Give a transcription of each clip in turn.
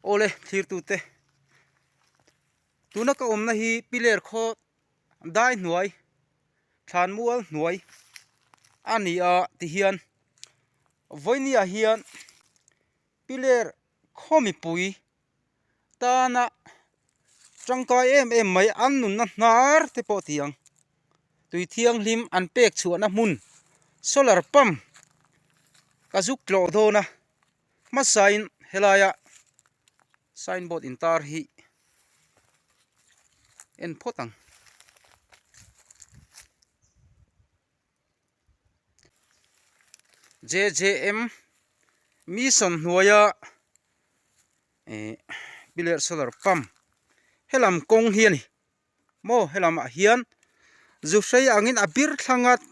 Awle thlirtute, tuna ka awmna hi piler khaw dai hnuai, thlan mual hnuai a ni a tihian vawinia hian piler khaw mipui tana tangkai em em mai an nunna hnar te pawh tiang tui thianghlim an pek chhuahna hmun solar pump ka zuk tlawh dawn a. Hmasain helaia sign board intar hi en phawt ang. JJM Mission hnuaia eh Piler Solar Pump helam kawng hi ani maw helamah hian zu hrei angin a bir thlang ngat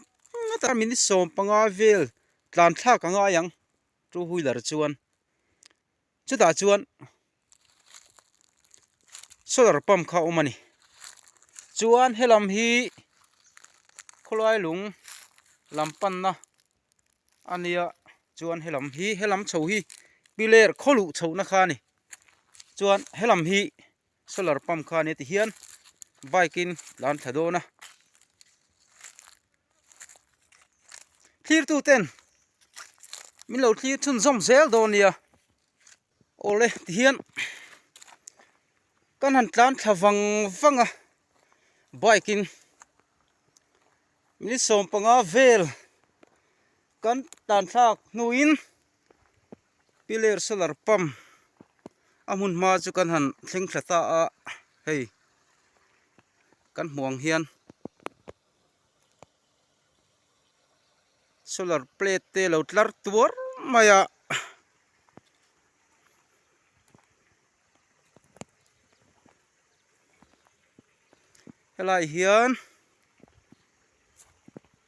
ngat a min sawm panga vel tlan thlak a ngai ang. Two wheeler chuan chutah chuan solar pump kha a awm a ni chuan helam hi khawlai lung lam panna a nia chuan helam hi helam chho hi piler khaw luh chhohna kha a ni chuan helam hi-- Solar pump kha ania tih hian bike in tlan thla dawn a thlirtu ten min lo thlir chhun zawm zel dawn nia awle tih hian kan han tlan thla vang vang a bike in minute sawm panga vel kan tlan thlak hnu in. Pillar solar pump a hmun hma chu kan han thleng thla ta a hei kan hmuh ang hian solar plate te lo tlar tuar mai a helai hian--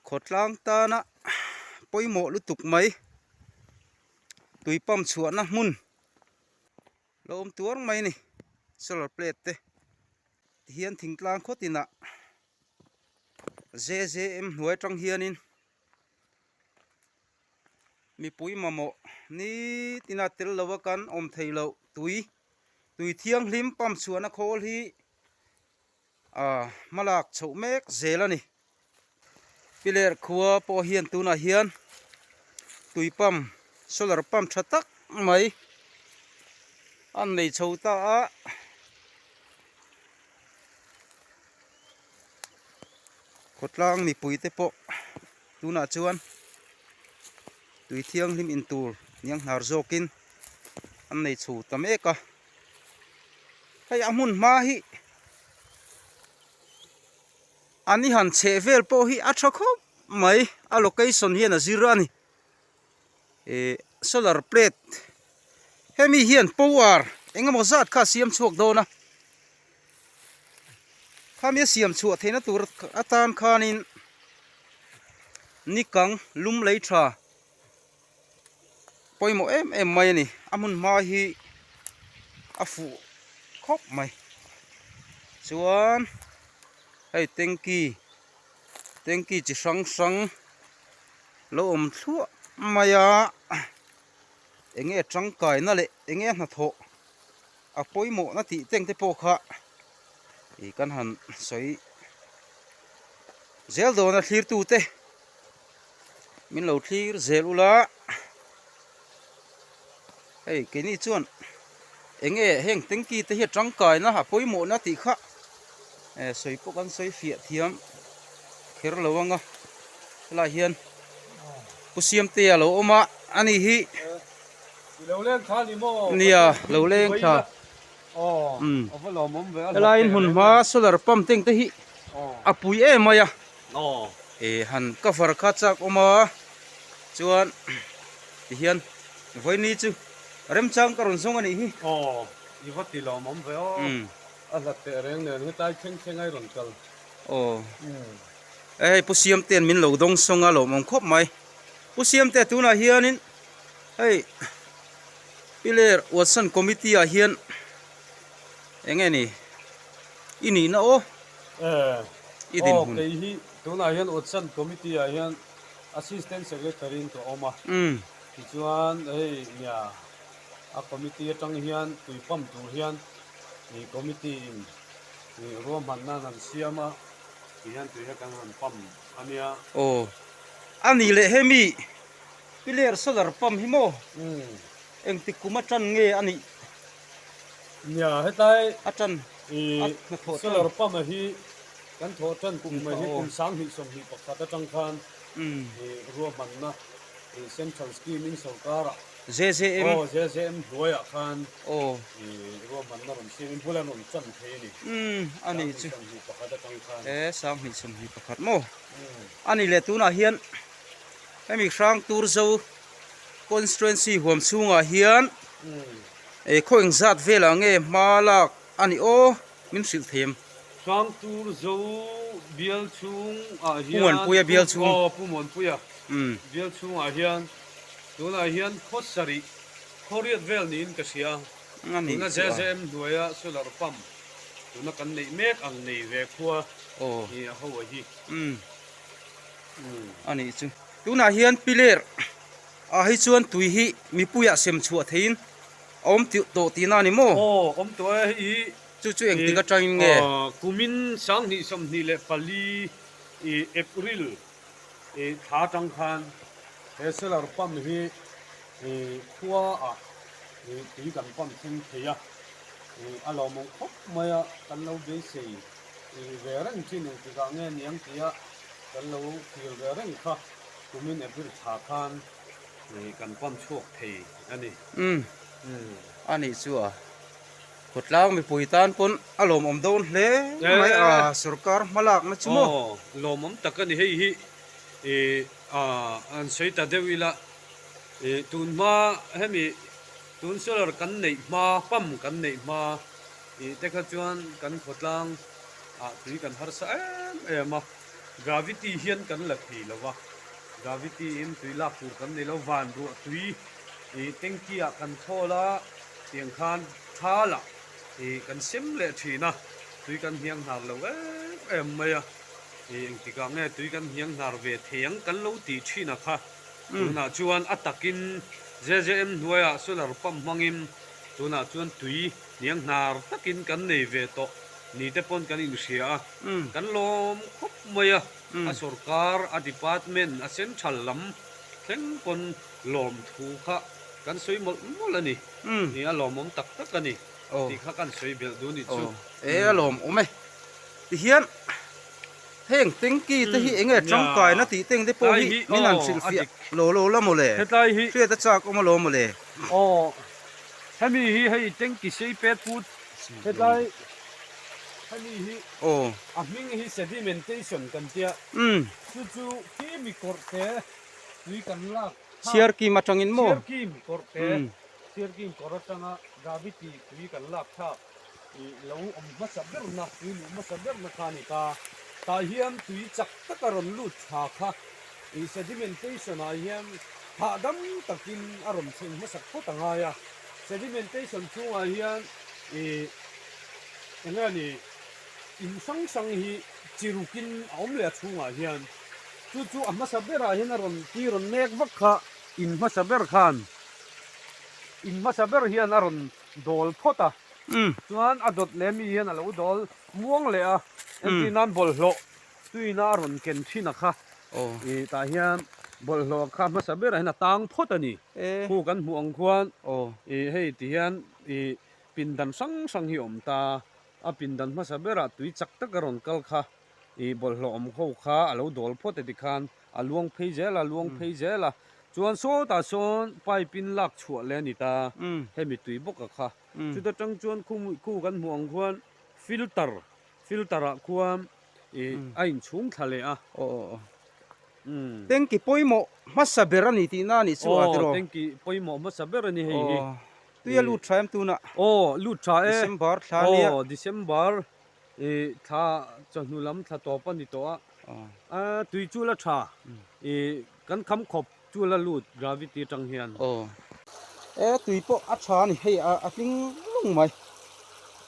khawtlang tana pawimawh lutuk mai tui pump chhuahna hmun lo awm tuar mai a ni solar plate te tihian thingtlang khaw tinah zzm hnuai atang hianin mipui mamawh nit ina tel lo a kan awm theih loh tui tui thianghlim pump chhuahna khawl hi-- Ahh hmalak chhoh mek zel a ni. Piler khua pawh hian tunah hian tui pump solar pump tha tak mai an nei chho ta a. Khawtlang mipui te pawh tunah chuan tui thianghlim intur niang hnar zawkin an nei chho ta mek a. hei a hmun hma hi an i han chheh vel pawh hi a tha khawp mai a location hian a zir a ni ihh solar plate hemi hian power eng emaw zat kha a siam chhuak dawn a khami a siam chhuah theihna tur atan khanin nikang lum lei tha-- Pawimawh em em mai a ni. A hmunhma hi a fuh khawp mai. Chuan hei tanky tanky chi hrang hrang lo awm thluah mai a. Eng nge tangkaina leh eng nge hnathawh. A pawimawhna tih teng te pawh kha ih kan han sawi zel dawn a thlir tu te min lo thlir zel ula hei keini chuan eng nge heng tanky te hi a tangkaina a pawimawhna tih kha eh sawi pawh kan sawi fiah thiam kher lo ang a helai ah hian khusiam te a lo awm a a ni hi. Nia lo leng tha helaiin hun hma solar pump teng te hi a pui em mai a han cover kha chak awm a chuan tihian vawiini chu remchang ka rawn zawng a nih hi aw hei pu siamte an min lo dawng sawng a lawmawm khawp mai pu siamte tunah hianin. Hei Piler Watson committee ah hian eng nge ni? I nihna aw. Eh. I dinhmun. Aw kei hi tunah hian Watson committee ah hian assistant secretary in ka awm a. Umm. Tichuan hei nia a committee atang hian tui pump tur hian ih committee in ih ruahman nan han siam a tih hian tui hi kan han pump ania. Aw. A nih leh hemi Pillar solar pump hi maw? Engtik kum a tan nge a nih? Nia, hetlai a tan solar pump a hi kan thawh tan kum mai hi kum sang hnih sawm hnih pakhat atang khan ruahmanna central scheme in sorkarah aw zzm hnuaiah khan ruahmanna rawn siam in bulah an rawn chan phei a ni. Sang hnih sawm hnih pakhat atang khan. He sang hnih sawm hnih pakhat maw? A ni le tunah hian. Hemi hrang tur zo constituency huam chhungah hian eh khaw eng zat velah nge hma lak a ni aw min hrilh thei em. Hrang tur zo bial chhungah hian. Pu Muanpuia bial chhung. Aw Pu Muanpuia bial chhungah hian tunah hian khaw sarih khaw riat vel niin ka hria a tuna zzm hnuaia solar pump tuna kan neih mek ang nei ve khua a ni a ho a hi. a nih chu. Tunah hian Piler ah hi chuan tui hi mipuiah sem chhuah theihin a awm tawh tihna a ni maw? Aw awm tawh e hei hi. Chu chu engtik atangin nge? Kumin sang hnih sawmhnih leh pali, April, tha atang khan he solar pump hi khua ah tui kan pump thleng thei a, a lo mawng khawp mai a kan lo beisei. Nih ve reng chi nih tikah nge niang tia kan lo kil ve reng kha kumin a bir tha khan ih kan pam chhuak thei a ni. Umm, a nih chu a. Khawtlang mipui tan pawn a lawmawm dawn hle mai a, sorkar hma lakna chu maw? Aw, lawmawm tak a ni hei hi. Ih, aah, an sawi ta deuh ila. Ih, tun hma hemi tun solar kan neih hma, pump kan neih hma. Tih te kha chuan kan khawtlang ah tui kan harsa em em a, gravity hian kan la thei lo va, gravity in tui lak tur kan nei lo, van ruah tui ih tanky ah kan khawl a tiang khan tha lah ih kan sem leh thin a, tui kan hniang hnar lo em em mai a, ih engtikah nge tui kan hniang hnar ve thei ang kan lo tih thin a kha, tunah chuan a takin JJM hnuaiah solar pump hmangin tunah chuan tui Nianghnar takin kan nei ve tawh ni te pawn kan inhria a, kan lawm khawp mai a, a sorkar, a department, a central lam thleng pawn lawm thu kha kan sawi mawlh mawlh a ni. Ni a lawm awm tak tak a ni tih kha kan sawi belh duh a nih chu. E a lawm awm e. Tihian heng tanky te hi enge tangkaina tih te ang te pawh hi min han hrilhfiah lo lo la maw le? Hriat a chak awm a lo maw le? Hemi hi hei tengki sei pet pu hetlai hemi hi a hming hi sedimentation kan tia chu chu kimi kawrh te tui kan lak tha chhiar kim atangin maw chhiar kim kawrh te chhiar kim kawrh atanga gravity tui kan lak tha. I lo awm hmasa ber na, tui luh hmasa ber na kha a ni ta. Tah hian tui chak tak a rawn lut tha kha i sedimentation ah hian hahdam takin a rawn chhun hmasak phawt a ngai a. Sedimentation chhungah hian i eng nge a ni, in hrang hrang hi chi rukin a awm leh a chhungah hian. Chu chu a hmasa berah hian a rawn tui rawn nek vak kha in hmasa ber khan, in hmasa ber hian a rawn dawl phawt a, chuan a dawt leh mi hian a lo dawl muang leh a, engtin an bawlhhlawh tuina a rawn ken thin a kha, i tah hian bawlhhlawh kha hmasa berah hian a tang phawt a ni, khu kan hmuh ang khuan i hei ti hian i pindan hrang hrang hi a awm ta, a pindan hmasa berah tui chak tak a rawn kal kha. I bawlhhlawh awm ho kha a lo dawl phawt e ti khan a luang phei zel a, luang phei zel a. Chuan sawtah sawn pipe in lak chhuah leh a ni ta, hemi tui bawkah kha. Chuta tang chuan khumui khu kan hmuh ang khuan filter, filter ah khuan a in chhung thla leh a. Tanki pawimawh hmasa ber a ni tihna a nih chu Aw, tanki pawimawh hmasa ber a ni hei hi. Tui a lut tha em tuna? Aw, lut tha e. December thla ania. Aw, December I thla chawhnu lam thla tawp a ni tawh a. A tui chu la tha. I kan kham khawp chu la lut gravity atang hian. E tui pawh a tha a ni. Hei a hling lung mai.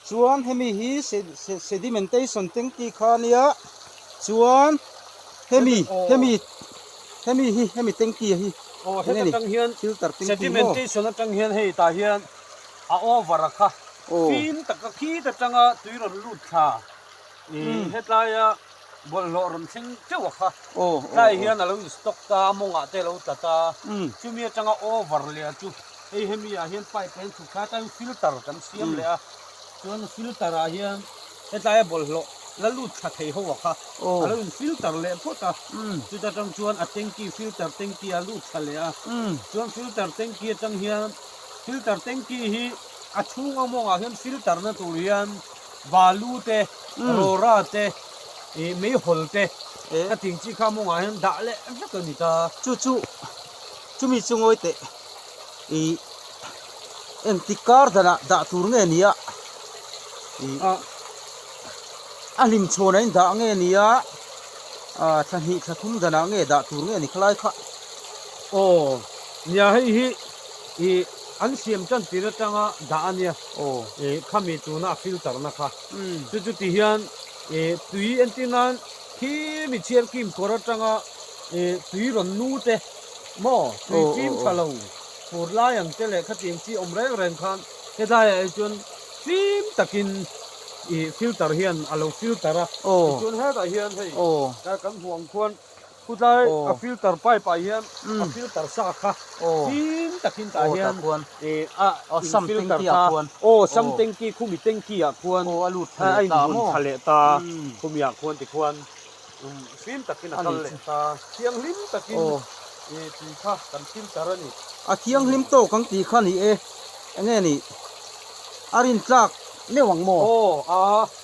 Chuan hemi hi sedimentation tengti kha a nia. Chuan hemi hemi hemi hi hemi tengti hi. Aw heta tang hian filter tengti maw? Sedimentation atang hian hei tah hian. A over a kha fim taka khit atanga tui rawn lut thla ih hetlaia bawlhhlawh rawn thleng teuh a kha tlaiah hian alo in stock ta a mawngah te alo tlat a chumi atanga over leh a chu hei hemi ah hian pipe leh an chhuk thla atan filter kan siam leh a chuan filter ah hian hetlaia bawlhhlawh la lut thla thei ho a kha alo in filter leh phawt a chuta tang chuan a tanky filter tanky ah a lut thla leh a chuan filter tanky atang hian. Filter tanki hi a chhung awm awm ah hian filter na tur hian balu te rawra te eh mei hawl te ka tih ang chi kha mawngah hian dah leh vek a ni ta. Chu chu chu mi chu ngawi teh i en ti kar danah dah tur nge nia i a hlim chhuan in dah nge nia a thla hnih thla thum danah nge dah tur nge ni khalai kha aw nia hei hi. I an siam tan tir atanga dah a nia i khami tuna a filter na kha. Chu chu ti hian i tui entir nan khi mi chhiar kim kawr atanga i tui rawn nu te maw tui fim tha lo fur lai ang te leh khatiang chi awm reng reng khan helai ah hi chuan fim takin i filter hian a lo filter a tichuan hetah hian hei kan hmuh ang khuan Khutlaia a filter pipe ah hian a filter sa a kha fîm takin tah hian a in filter ta a, aw sam tanky khumi tanky ah khuan a lut tha leh ta a, a inbun tha leh ta a, khumi ah khuan tikhuan fîm takin a kal leh ta a, thianghlim takin i tui kha kan filter a ni. A thianghlim tawk ang tih kha a ni e, enge nih a rintlak meuh ang maw? Aw a.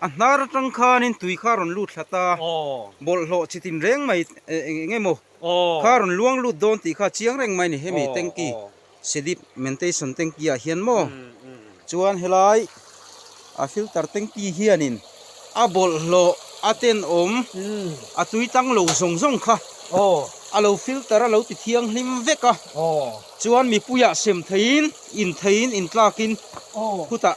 A hnar atang khanin tui kha rawn lut thla ta, bawlhhlawh chi tin reng mai eng emaw kha rawn luang lut dawn tih kha chiang reng mai a ni. Hemi tanki sedip mentation tanki ah hian maw chuan helai a filter tanki hianin a bawlhhlawh a tenawm a tui tang lo zawng zawng kha a lo filter a lo ti thiang hlim vek a, chuan mipuiah sem theihin intlak in khutah.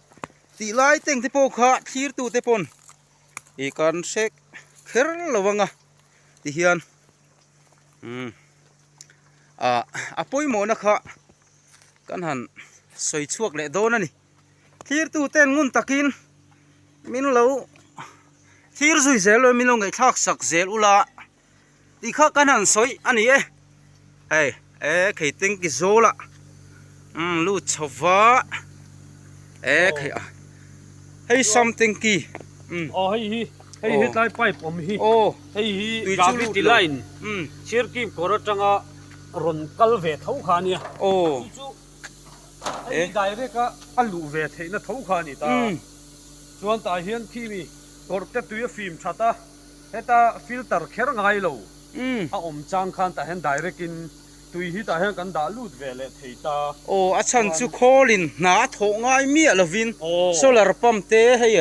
Tih lai teng te pawh kha thlir tu te pawn ih kan hrek kher lo vang a ti hian umm ah a pawimawhna kha kan han sawi chhuak leh dawn a ni thlir tu ten ngun takin min lo thlir zui zel lo min lo ngaihthlak sak zel ula. tih kha kan han sawi a ni e hei e khei tanki zawla umm lut chhova e khei a hei sam tanki umm aw hei hi hei hi tlai pipe awm hi aw hei hi tui chu lut lo line umm chhir kip kawr atanga rawn kal ve tho kha a nia aw tui chu hei hi direct a a luh ve theihna tho kha a ni ta umm chuan tah hian khi mi kawr te tui a fim that a. Heta filter kher ngai lo a awm chang khan tah hian direct in tui hi tah hian kan dah lut ve leh thei ta. Aw a chhan chu khawl in hna a thawh ngai miah lo vin solar pump te hei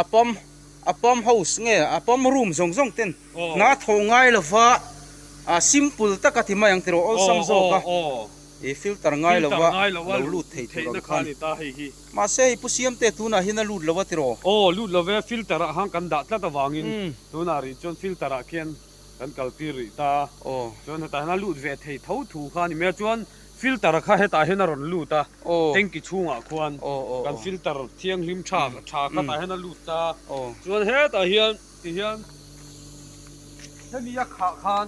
a pump a pump house nge a pump room zawng zawng ten hna a thawh ngai lo va ah simple tak a ti mai ang tilo awlsam zawk a filter ngai lo a lo lut thei tur ang khan. Mahse hei pu siamte tunah hian a lut lo a ti raw? Aw, lut lo ve, filter ah han kan dah tlat avangin tunah rih chuan filter ah khian kan kaltir rih ta. Chuan hetah hian a lut ve thei tho thu kha a ni mai a, chuan filter kha hetah hian a rawn lut a, tanki chhungah khuan kan filter thianghlim tha tha kha tah hian a lut ta. Chuan hetah hian tihian hemi a khah khan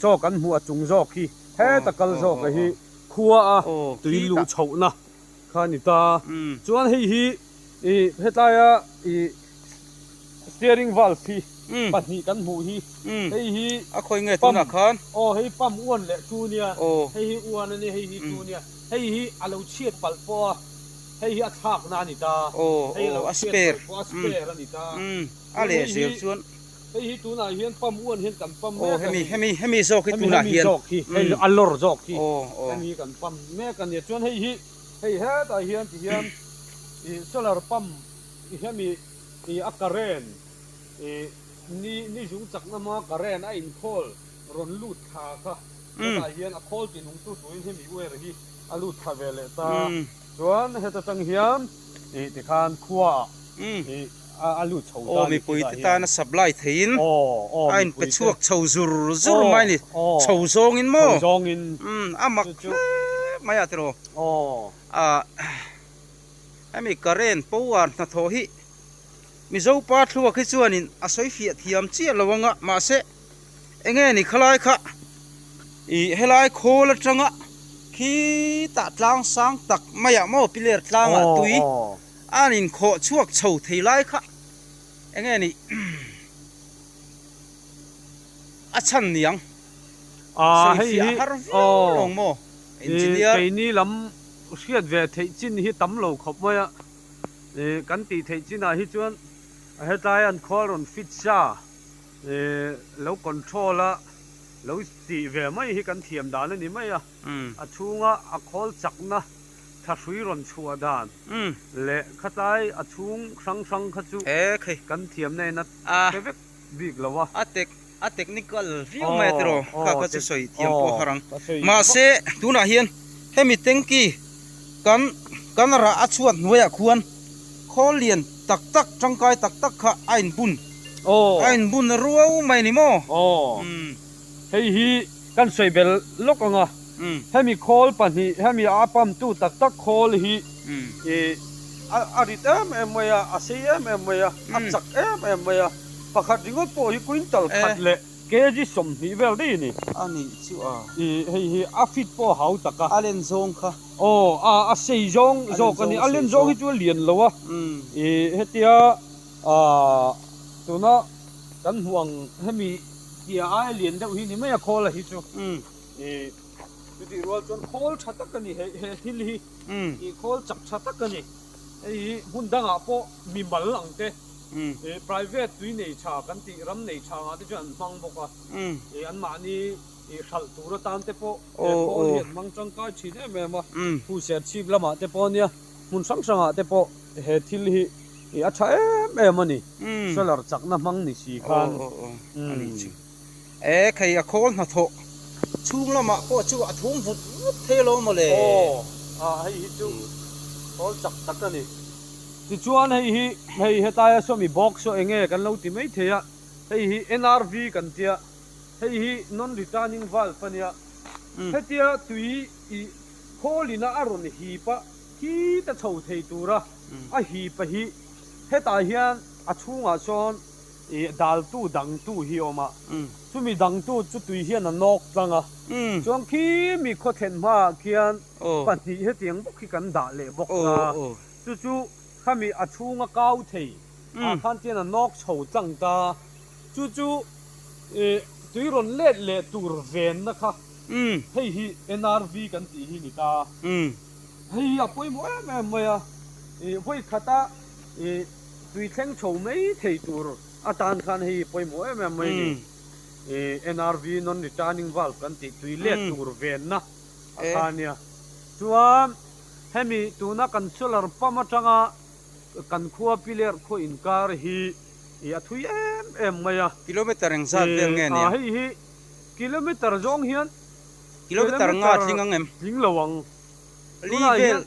Chaw kan hmuh a chung zawk hi heta kal zawk leh hi khua a tui luh chhohna kha a ni ta. Chuan hei hi ih hetaia ih steering valve hi pahnih kan hmuh hi hei hi a khawi nge tunah khan aw hei pump uan leh chu nia hei hi uan ania hei hi chu nia hei hi a lo chhiat palh pawh a hei hi a thlakna a ni ta hei a lo chhiat palh pawh a spare a ni ta. Hei hi tunah hian pump uan hian kan pump mek a ni. Aw hemi hemi zawk hi tunah hian. Hemi zawk hi hei a lawr zawk hi. Aw aw. Hemi hi kan pump mek a ni chuan hei hi hei hetah hian ti hian ih solar pump ih hemi ih a current ih ni ni zung chak lama current a in khawl rawn lut thla kha hetah hian a khawl tih nung tu turin hemi wire hi a lut thla ve leh ta chuan heta tang hian ih tikhan khua ah ih Aw mipui te tana supply theihin a in pe chhuak chho zur zur mai a ni, chho zawngin maw? umm a mak hle mai a tiraw ah hemi current power hnathawh hi Mizo pa thluak hi chuanin a sawi fiah thiam chiah lo anga mahse eng nge ni khalai kha ih helai khawl atanga khi tah tlang sang tak maiah maw pillar tlangah tui. an in khawh chhuak chho thei lai kha enge nih a chhan niang sawi fiah a har viau lo maw engineer. Keini lam hriat ve theih chin hi tam lo khawp mai a, kan tih theih chin ah hi chuan hetlai an khual rawn fit sa lo control a lo tih ve mai hi kan thiam dan a ni mai a. a chhunga a khawl chakna tha hrui rawn chhuah dan leh khatlai a chhung hrang hrang kha chu kan thiam na ina pe vek bik lo a. A tech a technical viau mai atero kha kha chu sawi thiam pawh a harh ang mahse tunah hian hemi tanky kan kan rah a chhuat hnuaiah khuan khawl lian tak tak tangkai tak tak kha a inbun a inbun ruau mai ni maw umm hei hi. kan sawi ber lawk ang a, hemi khawl pahnih hemi a pumtu tak tak khawl hi ih a rit em em mai a, a sei em em mai a, a chak em em mai a, pakhat ringawt pawh hi quintal khat leh kg sawmhnih vel daih a ni. A nih chu a. Ih hei hi a fit pawh a hau tak a. A len zawng kha. Aw a a sei zawng zawk a ni, a len zawng hi chu a lian lo a, ih hetia ahh tuna kan hmuh ang hemi. Tia aia lian deuh hi ni mai a khawl a hi chu i chutih rual chuan khawl tha tak a ni he he thil hi i khawl chak tha tak a ni hei hi hmun dangah pawh mi mal ang te i private tui nei tha kan tih ram nei tha ngah te chuan an hmang bawk a i an mahni i hralh tur atan te pawh he khawl hi an hmang tangkai thin em em a khu serchhip lamah te pawh a nia. Hmun hrang hrangah te pawh he thil hi ih a tha em em a ni. Solar chakna hmang ni si khan. Aw aw aw a nih chu. E khei a khawl hnathawh chhung lamah pawh chu a thum vut vut thei lo maw le. Aw a hei hi chu khawl chak tak a ni. Tichuan hei hi hei hetai a sawmi box saw eng nge kan lo ti mai thei a, hei hi NRV kan tia, hei hi non returning valve a nia. Hetia tui I Kholina a rawn hip a, khi ta chho thei tura a hip a hi. Hetah hian a chhungah chuan i daltu dangtu hi a awm a. Chumi dangtu chu tui hian a nawk tlang a. Chuan khi mi khawthlen hmaah khian pahnih hetiang bawk hi kan dah leh bawk a. Chu chu khami a chhung a kau thei ah khan khian a nawk chho tlang ta. Chu chu i tui rawn let leh tur venna kha. Hei hi NRV kan tih hi ni ta. Hei hi a pawimawh em em mai a. Ih vawikhatah ih tui thleng tho mai thei tur atan khan hei hi pawimawh em em mai a ni. Ih NRV non returning valve kan tih tui let tur venna a kha nia. Chuan hemi tuna kan solar pump atanga kan khuapi ler khaw inkar hi ih a thui em em mai a. Kilometer engzat vel nge nia? Ih a hei hi Kilometer zawng hian Kilometer nga tling ang em? Tling lo ang. Li vel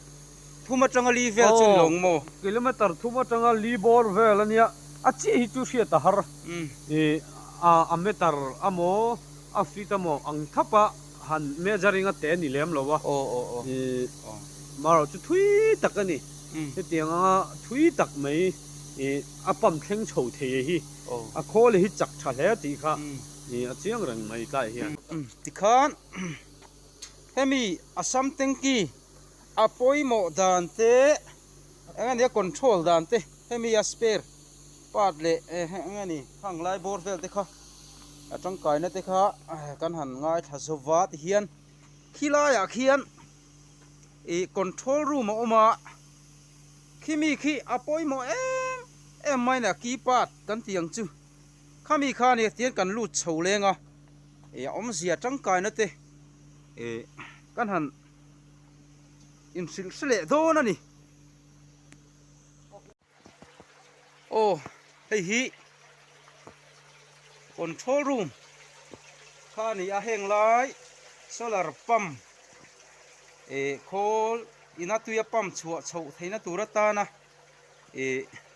thum atanga li vel chu ni lo ang maw? Kilometer thum atanga li bawr vel a nia. A chiah hi chu hriat a har. Ih, a meter a maw a feet a maw ang thap a han measuring a teh a ni lem lo a. Ih, amaherawh chu thui tak a ni. Hetiang anga thui tak mai ih a pump thleng chho thei e hi. A khaw leh hi chak tha hle tih kha. Ni a chiang reng mai tlai hian. Tikhan hemi Assam Tanki a pawimawh dan te eng a nia control dan te hemi a spare part leh eng a ni hang lai bawr vel te kha a tangkaina te kha kan han ngaithla zo va ti hian khi laiah khian ih control room a awm a khi mi khi a pawimawh em em mai a ni a key part kan tih ang chu. Khami kha nia tian kan lut chho leng a, e a awm zia tangkaina te e kan han in hrilh hre leh dawn a ni. Aw hei hi control room kha ani a, heng lai solar pump e khawl ina tuia pump chhuah chhoh theihna tur atana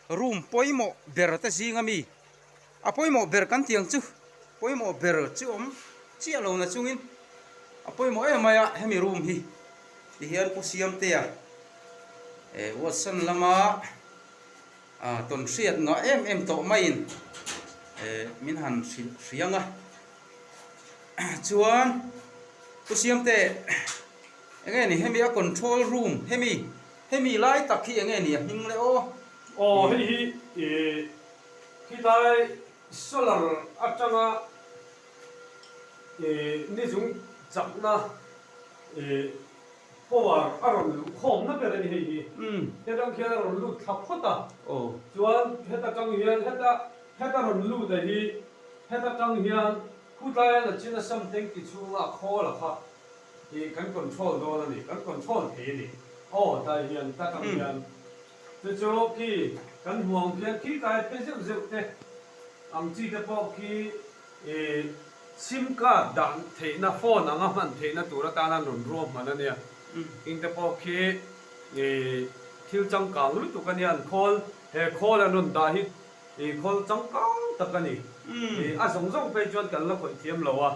room pawimawh ber te zing a mi a pawimawh ber kan tih ang chu pawimawh ber chi awm chiah lo na chungin a pawimawh em mai a hemi room hi ti hian pu siamtea eh watson lama ah tawn hriat ngah em em tawh maiin eh min han hrilh hriang a chuan pu siamte enge ni hemi a control room hemi. Hemi lai tak hi enge ni a hming le aw. Aw hei hi i khitlai solar atanga i nizung chakna i power a rawn luh khawm na ber a ni hei hi. Hetang khian a rawn lut thla phawt a, chuan heta tang hian heta heta rawn lut a hi heta tang hian khutlai a la chin a sam tanky chhunga a khawl a kha. Hi kan control dawn a ni, kan control thei a ni. Aw, Dai hian tak ang hian chu chu khi kan hmuang hian khi kai phei zeuh zeuh te ang chi te pawh khi sim card dah theihna phone anga hman theihna tur atan an rawn ruahman a nia. Heng te pawh khi thil changkang lutuk a nia an call, he call an rawn dah hi I khawl changkang tak a ni. I a zawng zawng phei chuan kan la khawih thiam lo a.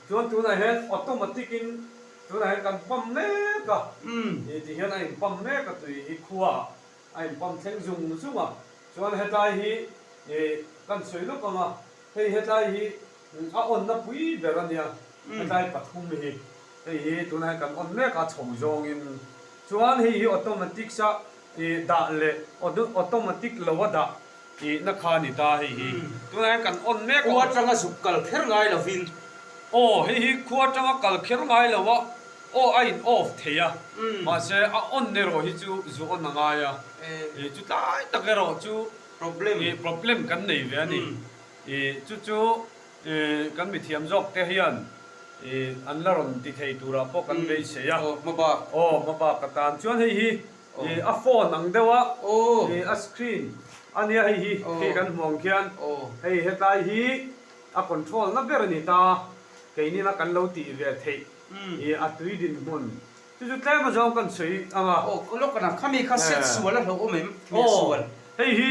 Chuan tunah hian automatic in tunah hian kan pump mek a. I ti hian a in pump mek a tui hi khua ah a in pump thleng zung zung a. Chuan hetlai hi i kan sawi lawk ang a, hei hetlai hi A awn na pui ber a nia. Hetlai pathum hi hei hi tuna hian kan awn mek a chho zawng in chuan hei hi automatics a ih dah leh automatics lo a dah ih na kha ani ta hei hi tuna hian kan awn mek a khuaa tanga zuk kal kher ngai lo in aw hei hi khuaa tanga kal kher ngai lo a aw a in off thei a mahse a awn erawh hi chu zu awn a ngai a ih chutlai tak erawh chu problem kan nei ve ani. I chu chu i kan mithiam zawk te hian i an la rawn ti thei turah pawh kan beisei a. Aw hma bak. Aw hma bak ka tan chuan hei hi i a phone ang deuh a i a screen a nia hei hi khi kan hmuh ang khian hei hetlai hi a control na ber a ni ta. Keinina kan lo tih ve theih i a tui dinhmun Chu chu tlem a zawng kan sawi ang a. Aw, ka lawk ka na. Khami kha set sual a hlauh awm em? Aw, hei hi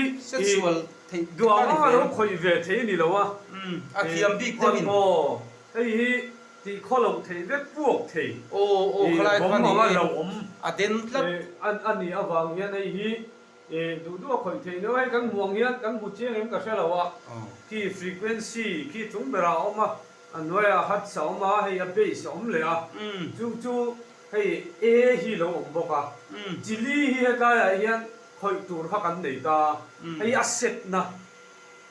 i duang a lo khawih ve theih a ni lo a. A thiam bik deuh in. Aw, hei hi tih khaw loh theih vek puak thei i bawm ang a hlauh awm. A den tlat. A nih avang hian hei hi E, duhduh a khawih theih loh hei kan hmuh ang hian kan hmu chiang em ka hre lo a, khi frequency khi chung berah a awm a, a hnuaiah hertz a awm a, hei a base a awm leh a, chung chu hei A hi lo awm bawk a, chili hi hetlaiah hian khawih tur kha kan nei ta a, hei a setna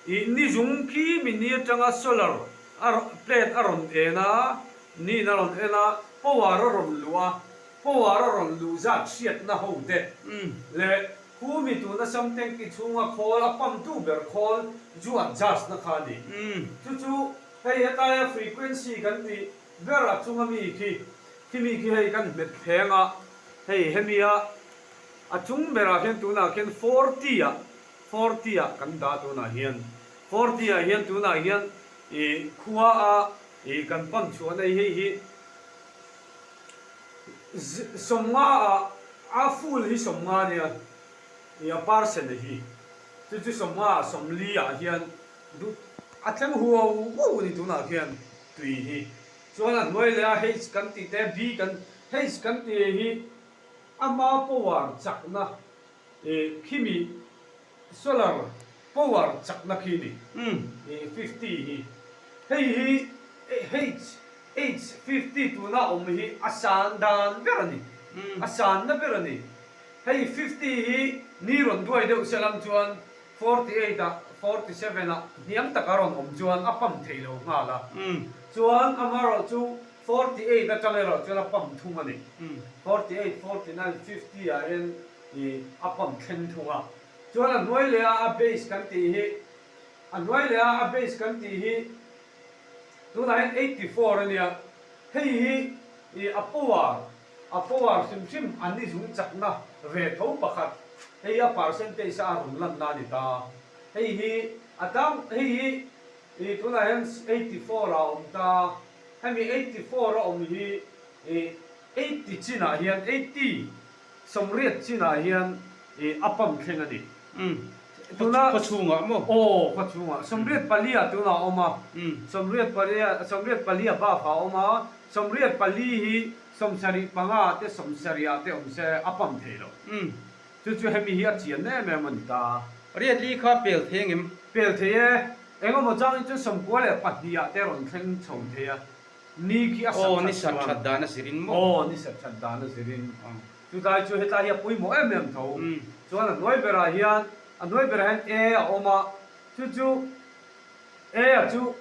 i ni zung khi mi ni atanga solar a plate a rawn en a, niin a rawn en a, power a rawn luh a, Khuar a rawn luh zat hriatna ho det leh hu mi tuna sam tanki chhunga khawl a pamtu ber khawl zu at judge-na kha a ni. Chu chu hei hetaia frequency kan tih berah chunga mi khi, khimi khi hei kan hmet thleng a, hei hemia a chung berah khian tunah khian forty ah, forty ah kan dah tunah hian, forty ah hian tunah hian ih khua a ih kan pam chhuahna hi hei hi. Sawmnga ah a fool hi sawmnga nia, i a parcel a hi. Chu chu sawmnga ah sawmli ah hian duh a tlem huau huau a ni tunah khian tui hi chuan a hnuai leh a, H kan tih te B kan H kan ti hi ama povar chakna khi mi. Solar power chakna khi ni fifty hi hei hi HH-fifty tunah awm hi a san dan ber a ni, a san na ber a ni. Hei fifty hi ni rawn duai deuh se lam chuan forty eight ah forty seven ah hniam taka rawn awm chuan a pump thei lo nghal a, chuan amaherawh chu forty eight aṭang erawh chuan a pump thung a ni. Forty eight, forty nine, fifty ah hian. Hi a pump thleng thung a. Chuan a hnuai leh a a bass kan tih hi, a hnuai leh a a bass kan tih hi tunah hian eighty four a nia. Hei hi ih a power, a power hrim hrim an ni zung chakna ve tho pakhat. Hei hi a percentage a rawn lanna a ni ta. Hei hi a dang, hei hi ih tunah hian eighty four ah a awm ta. Hemi eighty four a awm hi ih eighty chinah hian eighty. Sawmriat chinah hian ih a pump thleng a ni. Umm. Tuna. Khaw chhungah maw? Aw, khaw chhungah. Sawmriat palia tunah a awm a. Umm. Sawmriat palia, sawmriat palia bafah a awm a. Sawmriat pali hi sawmsarih panga te sawmsarih ah te awm se a pump thei lo. Umm. Chu chu hemi hi a chian em em a ni ta. Riat li kha pel thei ang em? Pel thei e. Engemaw changin chuan sawmkua leh pahnih ah te rawn thleng chho thei a. Ni khi a sat that chuan. Aw, ni sat that dan a zir in maw? Aw, ni sat that dan a zir in. Chulai chu hetlai hi a pawimawh em em tho. Chuan a hnuai berah hian, a hnuai berah hian e a awm a, chu chu e a chu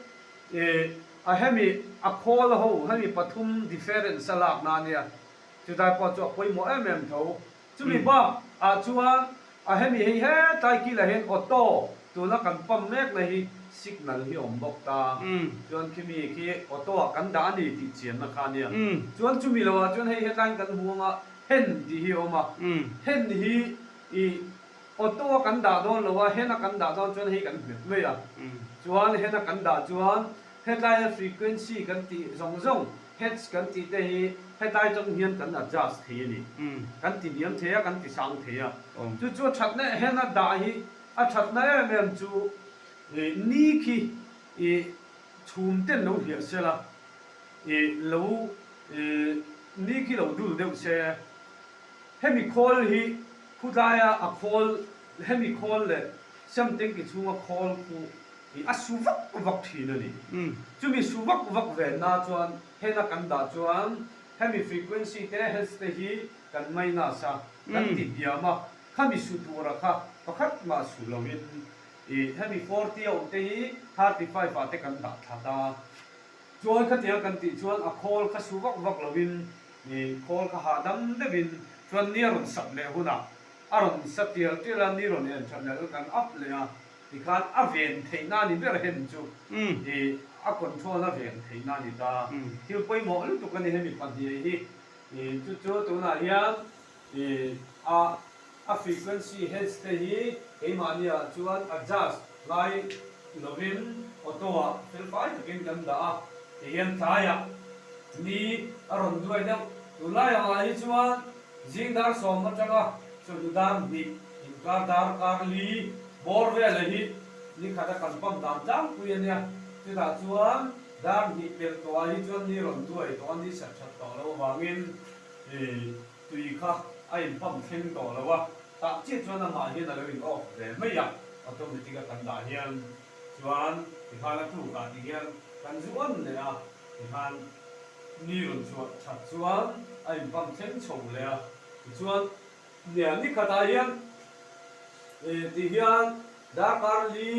ih a hemi a khawl ho, hemi pathum difference a lakna ania, chulai pawh chu a pawimawh em em tho. Chumi hma ah chuan a hemi hei hetlai kil ah hian auto tuna kan pump mek na hi signal hi awm bawk ta chuan khimi khi auto ah kan dah a ni tih chian na kha nia chuan chumi lo ah chuan hei hetlai kan hmu ang a hen tih hi a awm a hen hi i auto a kan dah dawn lo a hen a kan dah dawn chuan hei kan hmet mai a chuan hen a kan dah chuan hetlai a frequency kan tih zawng zawng Hats kan tih te hi hetai tawn hian kan adjust thei a ni. Kan ti hniam thei a, kan ti sang thei a. Chu chu a thatna ehem a dah hi a thatna em em chu ih ni khi ih chhum ten lo hliah se la ih lo ih ni khi lo dul deuh se. Hemi khawl hi khutlaia a khawl hemi khawl leh siam tengki chhunga khawl khu Hi a su vak vak thin a ni. Chumi su vak vak ve na chuan hen a kan dah chuan hemi frequency te, hertz te hi kan minus a, kan ti hniam a, khami su tura kha pakhat mah su lo in ih hemi forty a awm te hi thirty five ah te kan dah that a. Chuan khatiang kan tih chuan a call kha su vak vak lo in ih call kha hahdam deuh in chuan ni a rawn sap leh hunah a rawn sa tial tial a, ni rawn en that leh a kan up leh a. Tikhan a veng theihna ni ber hem chu i a control a veng theihna ni ta. Thil pawimawh lutuk a ni he mi pahnih hi. I chu chu tunah hian i a a frequency heads te hi keimahni ah chuan adjust lai lovin auto ah felfai takin kan dah a. Tihian tlai ah ni a rawn duai deuh. Tunlai ang ah hi chuan. Zing dar sawm atanga chawlh dan hnih inkar dar kar li bawr vela hi ni khat a kan pam dan tlangpui a nia. Chutah chuan dar hnih pelh tawh ah hi chuan ni rawn duai tawh a, ni sat that tawh loh avangin tui kha a inpam thleng tawh lo a, tah chiah chuan amah hian a lo in off ve mai a, automatic a kan dah hian chuan tikhana tluk ah ti hian kan zu awn leh a. Tikhan ni rawn chhuah that chuan a inpam thleng chho leh a. Tichuan hnial ni khatah hian eh tih hian darkar li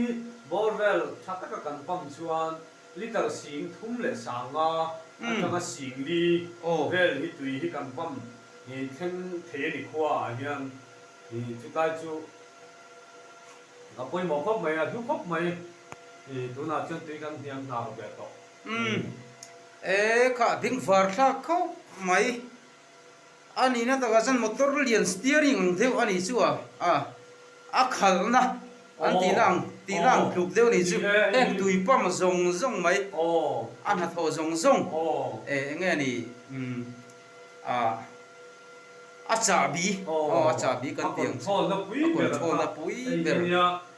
bawr vel tha taka kan pam chuan litre sing thum leh sanga atanga sing li vel hi tui hi kan pam eh thleng thei a ni khua ah hian eh chutlai chu a pawimawh khawp mai a hlu khawp mai. I tunah chuan tui kan hniam hna ro ber tawh. Umm. E kha a ding var thlak khawp mai. A nihna takah chuan motor lian steering ang deuh a nih chu a, a a khalhna an tihna ang, tihna ang tluk deuh a nih chu. Heng tui pump zawng zawng mai, a hnathawh zawng zawng. E enge ni, umm, a a chahbi, aw a chahbi kan tih ang chu. A control na pui ber.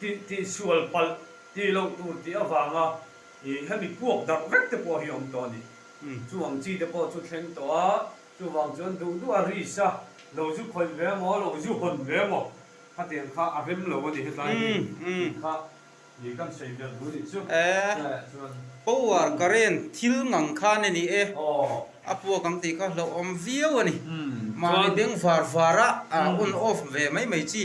Tih tih sual palh ti loh tur tih avanga ih hemi puak darh vek te pawh hi awm tawh a ni. Chu ang chi te pawh chu thleng tawh a, chuvang chuan duh duh a ris a, lo zu khawih ve maw, lo zu hawn ve maw khatiang kha a rem lo a ni hetlai hi tih kha ih kan sawi belh bu ni chu. Tlaiah chuan. Power, current, thil ngang khan a ni e, a puak ang tih kha hlauhawm viau a ni. Mahni beng var varah a on off ve mai mai chi.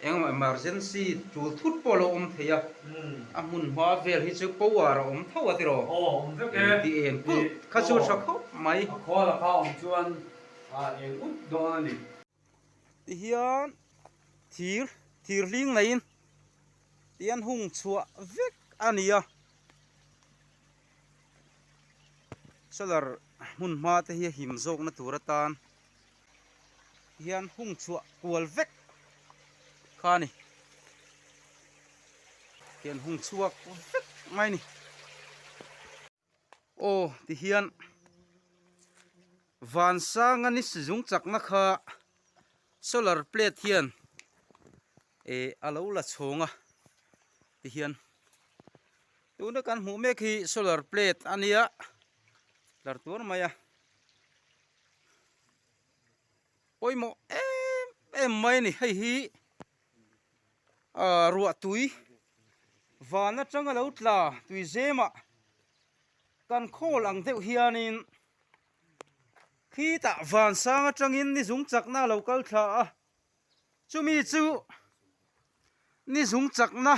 Engemaw emergency tul thut pawh lo awm thei a, a hmunhma vel hi chu power a awm tho a tiraw? Aw a awm vek e. Engti eng phulh kha chu hre khawp mai. A khaw lakah awm chuan a eng up dawn a ni. Ti hian thir thir hling neiin ti an hung chhuah vek a ni a. Solar hmunhma te hi a him zawkna tur atan hian hung chhuah kual vek kha a ni. Hian hung chhuak vek mai a ni. Aw tihian Vansanga ni sizung chakna kha solar plate hian eh a lo la chhawng a tihian. Tuna kan hmuh mek hi solar plate a nia, tlar tuar mai a. Pawimawh em em mai a ni, hei hi ahh ruah tui van atanga lo tla tuizema kan khawl ang deuh hianin khitah van sang atangin ni zung chakna lo kal thla a. Chumi chu ni zung chakna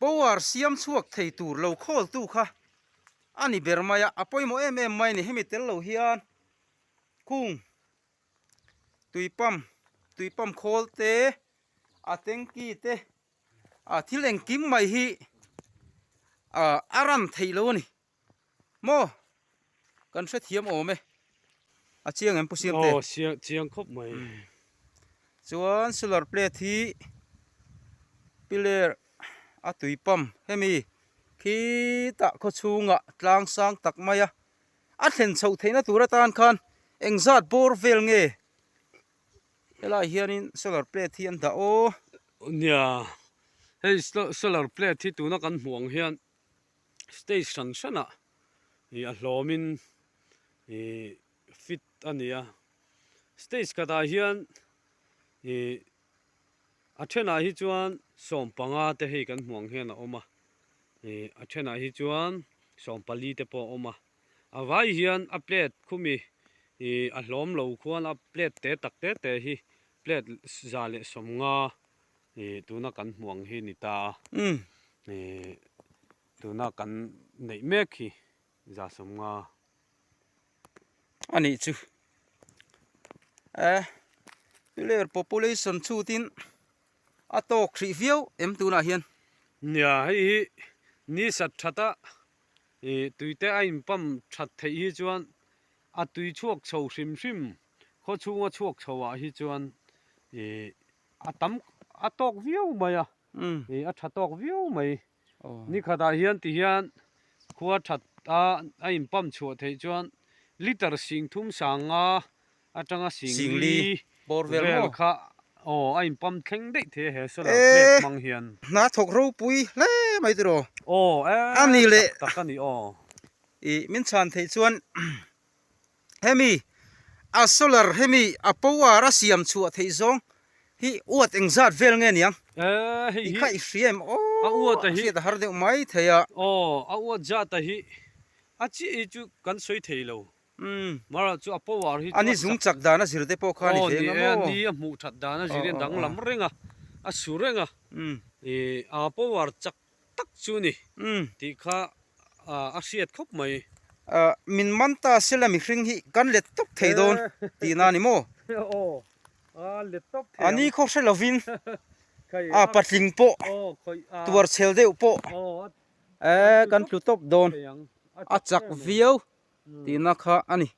power siam chhuak thei tur lo khawl tu kha a ni ber mai a, a pawimawh em em mai a ni. Hemi tel lo hian khung tui pump tui pump khawl te a tanky te a thil engkim mai hi ah a run theih lo a ni. Maw! Kan hrethiam awm e. A chiang em pusiam te? Aw siang chiang khawp mai. Chuan solar plate hi pillar a tui pump hemi khitah khaw chhungah tlang sang tak mai a. A thlen chhoh theihna tur atan khan eng zat bawr vel nge helai hianin solar plate hi an dah aw. Nia hei solar plate hi tuna kan hmuh ang hian. stage hran hranah ih a hlawmin ih fit a ni a stage khatah hian ih a thenah hi chuan sawm panga te hei kan hmuh ang hian a awm a ih a thenah hi chuan sawm pali te pawh a awm a a vai hian a plate khumi ih a hlawm lo khuan a plate te tak te te hi plate za leh sawmnga-- ih tuna kan hmuh ang hi ni ta a ih tuna kan neih mek hi zasom nga a nih chu eh tule population chhutin a tawk hrih viau em tunah hian nia hei hi ni sat that a ih tuite a in pump that theih hi chuan a tui chhuak chho hrim hrim khaw chhunga chhuak chhoh ah hi chuan ih-- a tam a tawk viau mai a ih a tha tawk viau mai ni khat ah hian ti hian khua that a a in pump chhuah theih chuan liter sing thum sang nga atanga sing li borewell maw vel kha aw a in pump thleng daih theih a he solar plate hmang hian eh hnathawk ropui hle mai te rawh aw eh a ni leh tak tak a ni aw ih min chhan theih chuan. Hemi a solar hemi a power a siam chhuah theih zawng hi uat eng zat vel nge niang? I kha i hria em aw a hriat a har deuh mai thei a. Aw a uat zat a hi a chi hi chu kan sawi thei lo. Mahra chu a power hi chu a chak. Ani zung chak dan a zir te pawh kha a ni ve ngam aw. Ani a hmuh that dan a zir hi a dang lam reng a, a su reng a. I a power chak. tak chu ni tih kha a hriat khawp mai. Min man ta se la mihring hi kan let tawp thei dawn tih na a ni maw? Ani khaw hre lovin a patling pawh tuar chhel deuh pawh kan tlu tawp dawn a chak viau tihna kha a ni.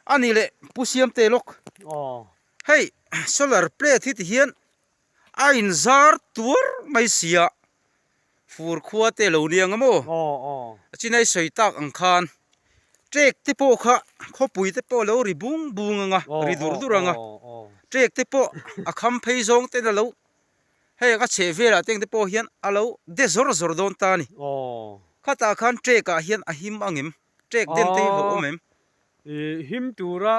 A nih leh Pu Siamtelawk. Hei solar plate hi ti hian a inzar tuar mai sia fur khua te lo nia ngam aw. A chinai sawi tak ang khan trek te pawh kha khawpui te pawh lo ri bung bung ang a, ri dur dur ang a. Trek te pawh a kham phei zawng ten a lo. Hei ang a chheh velah te ang te pawh hian a lo de zawr zawr dawn ta a ni. Khatah khan trek ah hian a him ang em? Track den te hi hauh awm em? Ih him tura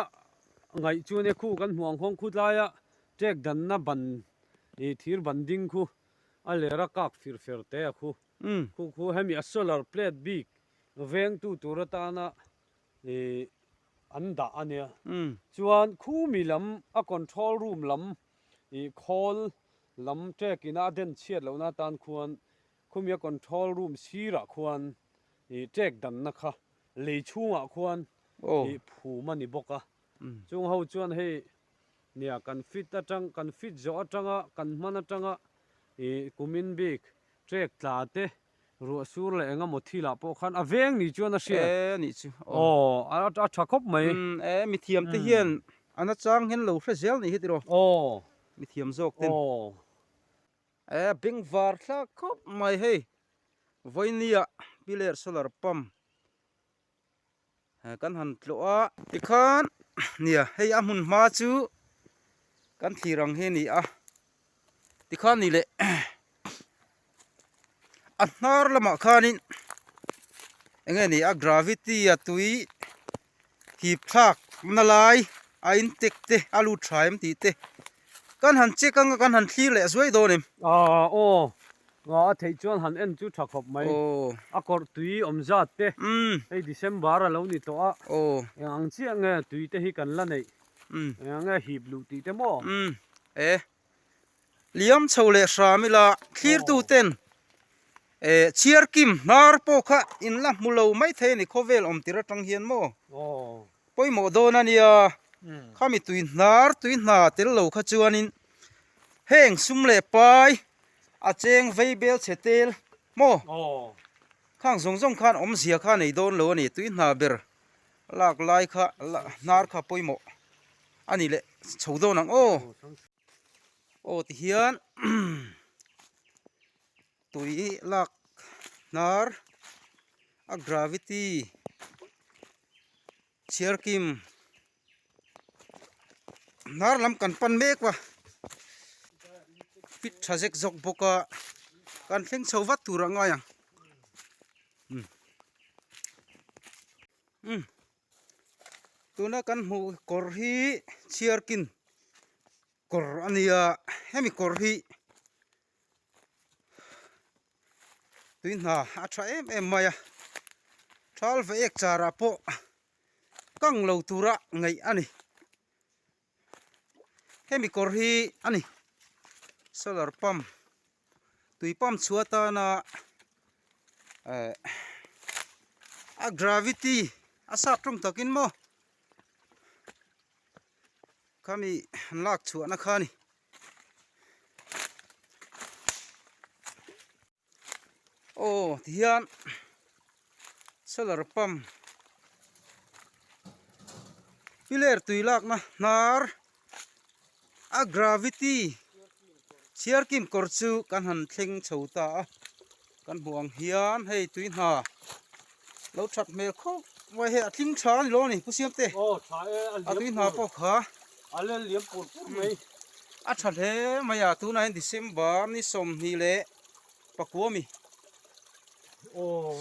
ngaih chuan e khu kan hmuh ang khaw khutlaia track danna ban ih thir ban ding khu a ler a kak fir fir te a khu khu khu hemi a solar plate bik vengtu tur atana ih an dah a nia chuan khumi lam a control room lam ih khawl lam track ina a den chhiat lohna tan khuan Khumia control room sirah khuan i tek danna kha lei chhungah khuan i phum a ni bawk a. Chung ho chuan hei nia kan fit atang kan fit zawh atang a, kan hman atang a, i kumin bik tek tla te, ruahsur leh eng emaw thilah pawh khan a veng ni chuan a hriat. E anih chu. Aw a a tha khawp mai. E mithiam te hian an achang hian lo hre zel anih hi tiraw? Aw. Mithiam zawk ten. Aw. E beng var thla khawp mai hei vawini ah piler solar pump kan han tlawh a tikhan nia hei a hmun hma chu kan thlir ang hi a ni a tikha ni leh a hnar lamah khanin eng nge ni a gravity a tui. hip thlak na lai a in tek te a lut tha em tih te kan han check anga kan han thlir leh zuai dawn em. Aa aw aa a theih chuan han en chu tha khawp mai a kawrh tui awm zat te hei December a lo ni tawh a eng ang chiah nge tui te hi kan la neih eng ang nge hip luh tih te maw e. Liam chho leh hram ila thlirtu ten eh chhiar kim hnar pawh kha in la hmu lo mai thei a ni khawvel awm tir atang hian maw pawimawh dawn a nia khami tui hnar tui hna tel lo kha chuanin heng sum leh pai a cheng vei bel chhe tel maw khang zawng zawng khan awmzia kha nei dawn lo a ni tui hna ber. Lak lai kha la hnar kha pawimawh a nih leh chho dawn ang aw. Aw tihian tui lak hnar a gravity chhiar kim hnar lam kan pan mek va fit tha zek zawk bawk a kan thleng chho vat tur a ngai ang. umm umm tuna kan hmuh kawr hi chhiar kin kawr a ni a hemi kawr hi tui hna a tha em em mai a thal vae ek char ah pawh kang lo tura ngaih a ni. Hemi kawr hi a ni solar pump tui pump chhuah atana eh a gravity a sap tawng takin maw khami an lak chhuahna kha a ni. aw tihian solar pump pilar tui lakna hnar a gravity siarkim kawr chu kan han thleng chho ta a kan hmuh ang hian hei tui hna-- lo that hmel khawp mai hei a tling tha a ni lo a ni pusiam te a tui hna pawh kha a tha hle mai a tunah hian december ni sawmhnih leh pakua mi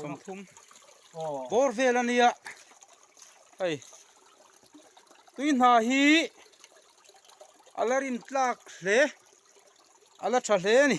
sawmthum bawr vel a nia hei tui hna hi a la rin tlak hle a la tha hle a ni.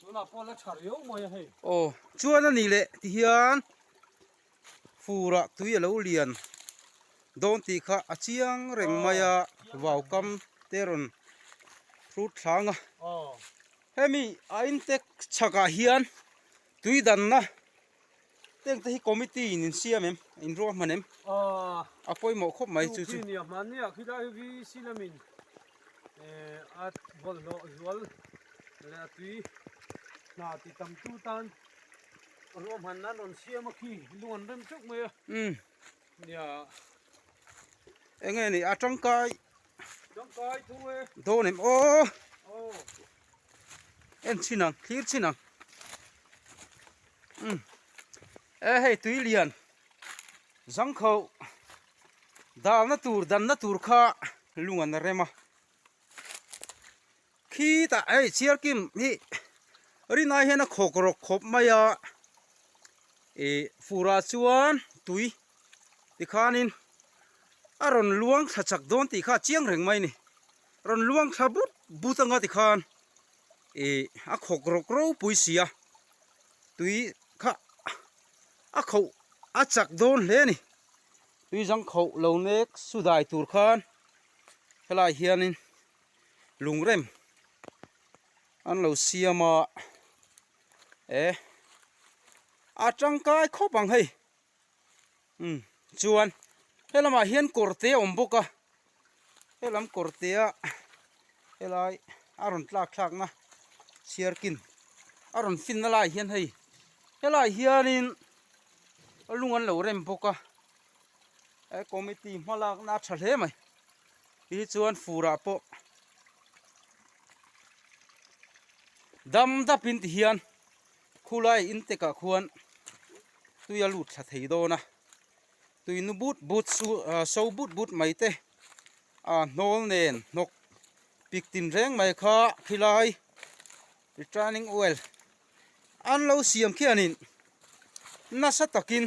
Tunah pawh la tha riau mai a hei. Aw, chuan a nih leh ti hian furah tui a lo lian dawn tih kha a chiang reng mai a, vau kam te a rawn hlut thlang a. Hemi a intek chhakah hian tui danna Heng te hi committee in in siam em in ruah hman em ah a pawimawh khawp mai chu chu ni a hman nia khi lai vi silam in eh a bol lo zual le a tui na ti tam tu tan ruah hman nan rawn siam a khi lung an rem chuk mai a um nia eng nge ni a tangkai Dawn em aw en chhin ang thlir chhin ang um e hei tui lian zangkho dalna tur danna tur kha lung an rem a. Khi ta hei Chhiarkim hi Rinai hian a khawk rawk khawp mai a, ih furah chuan tui tikhanin a rawn luang thla chak dawn tih kha a chiang reng mai a ni. Rawn luang thla but but anga tikhan ih a khawk rawk ropui sia tui kha a khauh a chak dawn hle a ni. Tui zang khauh lo mek sudai tur khan helai hianin. lungrem an lo siam a eh a tangkai khawp ang hei umm chuan he lamah hian kawr te a awm bawk a helam kawr te ah helai a rawn tlak thlak na chhiar kin a rawn fin na lai hian hei helai hian in a lung an lo rem bawk a he committee hma lak na a tha hle mai. Te hi chuan furah pawh dam dapin ti hian khulai intekah khuan tui a lut thla thei dawn a, tui nu but but su ah so but but mai te ah hnawl nen hnawk pik tin reng mai kha khilai returning oil an lo siam khianin nasa takin.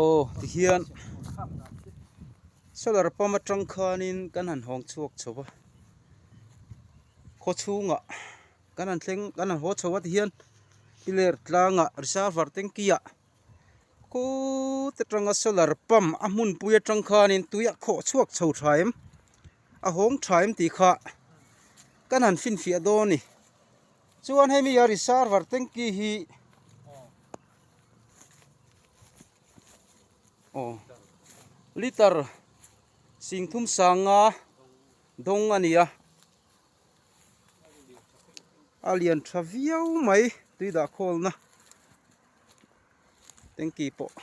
aw tihian solar pump atang khanin kan han hawng chhuak chho va khaw chhungah kan han thleng kan han haw chho a tihian i ler tlangah reserver tanki ah khut atanga solar pump a hmunpui atang khanin tui a khawh chhuak chho tha em a hawng tha em tih kha kan han finfiah dawn a ni chuan hemi reserver tanki hi-- aw litar singthum sanga dawng a ni a a lian tha viau mai tui dah khawl na tanky pawh.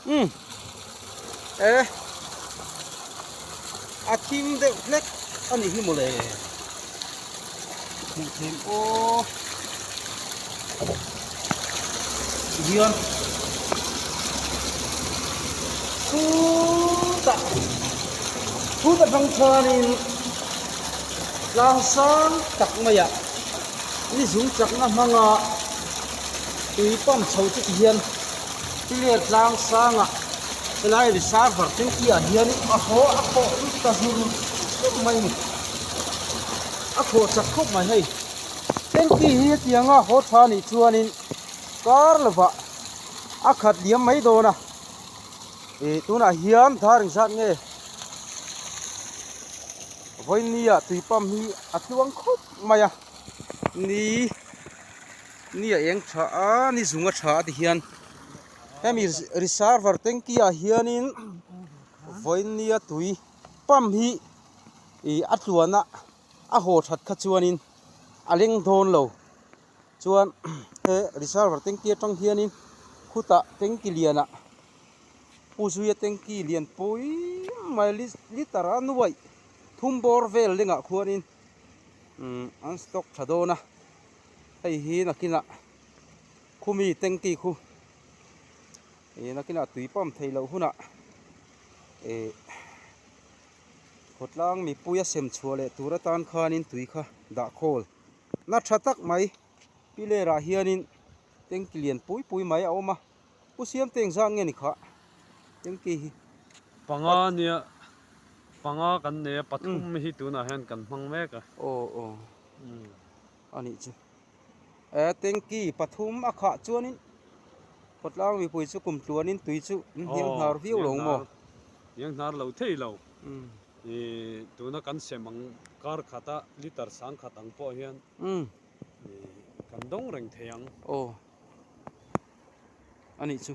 Umm. Eh. A thim deuh hlek a nih hi mawle. Hmuh theih maw. Hian. Chu ta. Chu ta hrang chuan in tlang sang tak mai ah. Ni zum chakna hmanga tui pump chho chu ti hian Piler tlang sanga helai reservoir tanki ah hian a haw a khawh lut ta zun khawp mai ni. A khawh chak khawp mai hei. Tanki hi hetiang a haw tha nih chuanin kar lova a khat liam mai dawn a. Ih tunah hian darin zat nge vawinia tui pump hi a tluang khawp. mai a, ni ni a eng tha a, ni zung a tha a ti hian hemi reserver tanky ah hianin vawinia tui pump hi ih a tluan a a haw that kha chuanin a leng dawn lo chuan he reserver tanky atang hianin khutah tanky lianah pu zuia tanky lian pui mai litre a nuaih thum bawr vel lengah khuanin-- umm an stock tha dawn a hei hi nakinah khu mi tengti khu ihh nakinah tui pump theih loh hunah ihh khawtlang mipuia sem chhuah leh tur atan khanin tui kha dah khawl na tha tak mai pilar ah hianin tengki lian pui pui mai a awm a. U Siamteng zan nge ni khah? Engti hi? Panga nia, panga kan nei a, pathum hi tunah hian kan hmang mek a. Aw aw, a nih chu. E, Tengki, pathum a khah chuanin khawtlang mipui chu kum tluanin tui chu hniang hnar viau lo maw? Hniang hnar lo thei lo. Ih, tuna kan sem ang, kar khata, litre sang khat ang pawh hian. Kan dawng reng thei ang. Aw. Anih chu.